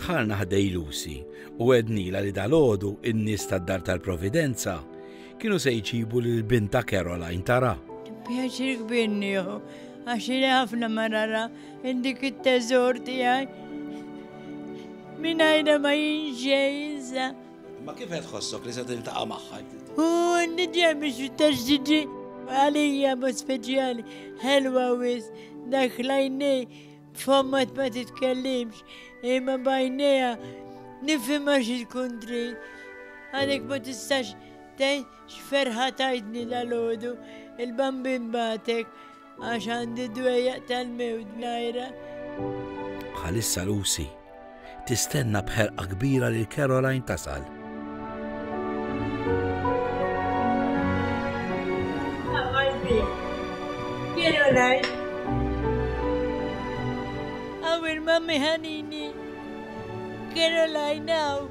Dħalna ħdej Lucy u għednila li dal-ħodu in-nies tad-dar tal-Providenza kienu se jċibu lil binta Caroline tara. Pjaċir kbir nieħu, għax li ħafna marara indik it-teżor tiegħi. Minajna ma jinxejza. Imma kif qed tħossok li se tiltaqa' magħha? U nidja biex taġġiġi għalija ma speċjali ħelwa wis dak lajnej fommat ma titkellimx imma bajnija nifhimha xi tkun trid. Għalhekk ma tistax tgħid x'ferħa tajtni dal-għodu il-bambin batek Għax għandi dwejjaq tal-mewt najra. Bħalissa Lucy tistenna bħerqa kbira lil Caroline tasal. Caroline. Għawil mammi ħanini. Caroline għaw.